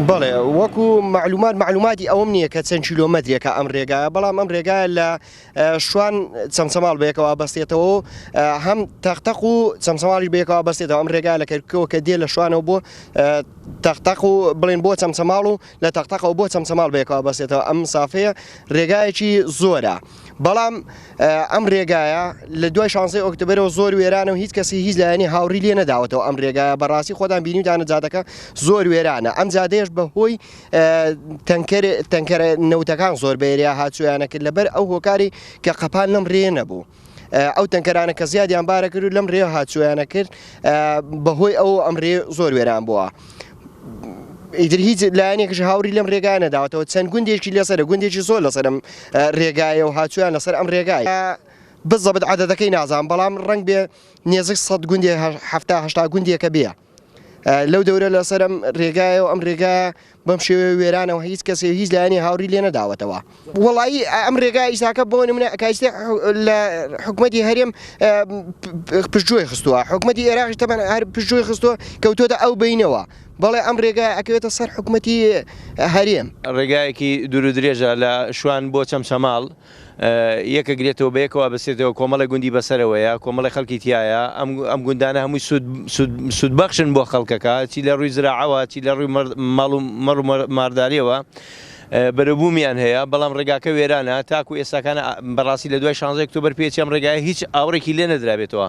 بەڵێ وەکو معلومات معلوماتی ئەوم نییە کە چەند کیلومەترێکە ئەم ڕێگایە بەڵام ئەم ڕێگایە لە شوان چەمچەماڵ بەیەکەوە بەستێتەوە و هەم تەختەق و چەمچەماڵی بەیەکەوە بەستێتەوە ئەم ڕێگا لە کەرکەوە کە دێ لە شوانەوە بۆ تەختەق و بڵێن بۆ چەمچەماڵ و لە تەقتەقەوە بۆ چەمچەماڵ بەیەکەوە بەسێتەوە ئەم مسافەیە ڕێگایەکی زۆرە بەڵام ئەم ڕێگایە لە دوای شانزەی ئۆکتبرەوە زۆر وێرانە و هیچ کەسی هیچ لایەنی هاوڕی لێ نەداوەتەوە ئەم ڕێگایە بەڕاستی خۆدان بینیدانە جادەکە زۆر وێرانە ئەم جادەیەش بە هۆی تەنکەر تەنکەرە نەوتەکان زۆر بەێریا هاچویانە کرد لەبەر ئەو هۆکاری کە قەپان لەم ڕێ نەبوو. ئەو تەنکەرانە کە زیادیان بارە کرد و لەم رێ هاچویانە کرد بەهۆی ئەو ئەم رێ زۆر وێران بووە. ئیدر هیچ لایەنێکش هاوری لەم رێگانە داوەتەوە چەند گوندێکی لەسەر گوندێکی زۆر لەسەرم رێگایە و هاچویان لەسەر ئەم رێگای بزەبت عادەتەکەی نازان بەڵام ڕنگ بێ نێزیک سەد گوندێ هەفتاهشتا گوندێکە بێە. لەو دەورە لەسەر ئەم رێگایە و ئەم رێگایە بەم شێوەیە وێرانەوە هیچ کەسێ هیچ لایەنی هاوڕی لێ نەداوەتەوە وڵایی ئەم رێگا ئیساکە بۆ نمونە ئەکایستی لە حکوومەتی هەرێم پشتجوۆی خستووە حکوومەتی ئێراقی تەبەن هەر پشتجوۆی خستووە کەوتۆتە ئەو بینەوە بەڵێ ئەم رێگا ئەکەوێتە سەر حکوومەتی هەرێم رێگایەکی دوور و درێژە لە شوان بۆ چەمچەماڵ. یەکە گرێتەوە بە یەکەوە ئەبەستێتەوە کۆمەڵێک گوندی بەسەرەوەیە کۆمەڵێک خەڵکی تیایە ئەم ئەم گوندانە هەمووی سود سود سودبەخشن بۆ خەڵکەکە چی لە ڕووی زراعەوە چی لە ڕووی مەڕ ماڵ و مەڕ و مارداریەوە بەرەبوومیان هەیە بەڵام ڕێگاکە وێرانە تاکو ئێستاکانە بەڕاستی لە دوای شانزەی ئۆکتۆبەر پێچ ئەم ڕێگایە هیچ ئاوڕێکی لێ نەدرابێتەوە.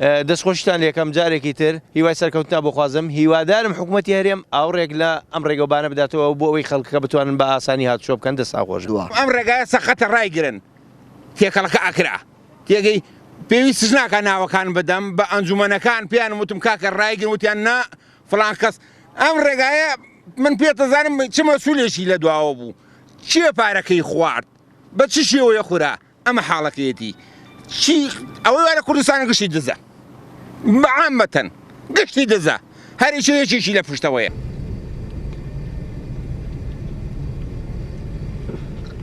دەست خۆشتان لەکەم جارێکی تر هیوای سەرکەوتنا بۆ خوازم هیوادارم حکوومەتتی هەرێم ئاوڕێک لە ئەم ڕێگەوبانە بداتەوە بۆ ئەوەی خەڵکەکە بتوانن بە ئاسانی هاتوچۆ بکەن دە ساخۆش دووە ئەم ڕێگایە سەقەتە ڕایگرن تێکەڵەکە ئەکرا تێگەی پێویستش ناکە ناوەکان بدەم بە ئەنجومەنەکان پێیان وتم کاکە ڕایگرن وتیان نا فلان کەس ئەم ڕێگایە من پێتەزانم چمە سولێکی لە دواوە بوو چیە پارەکەی خوارد بە چ شێوەیە خورا ئەمە حاڵەکەیەتی چی ئەوەی وا لە کوردستانە گشتی دزە عامەتەن گشتی دزە هەریکی یەکێکی لە پشتەوەیە.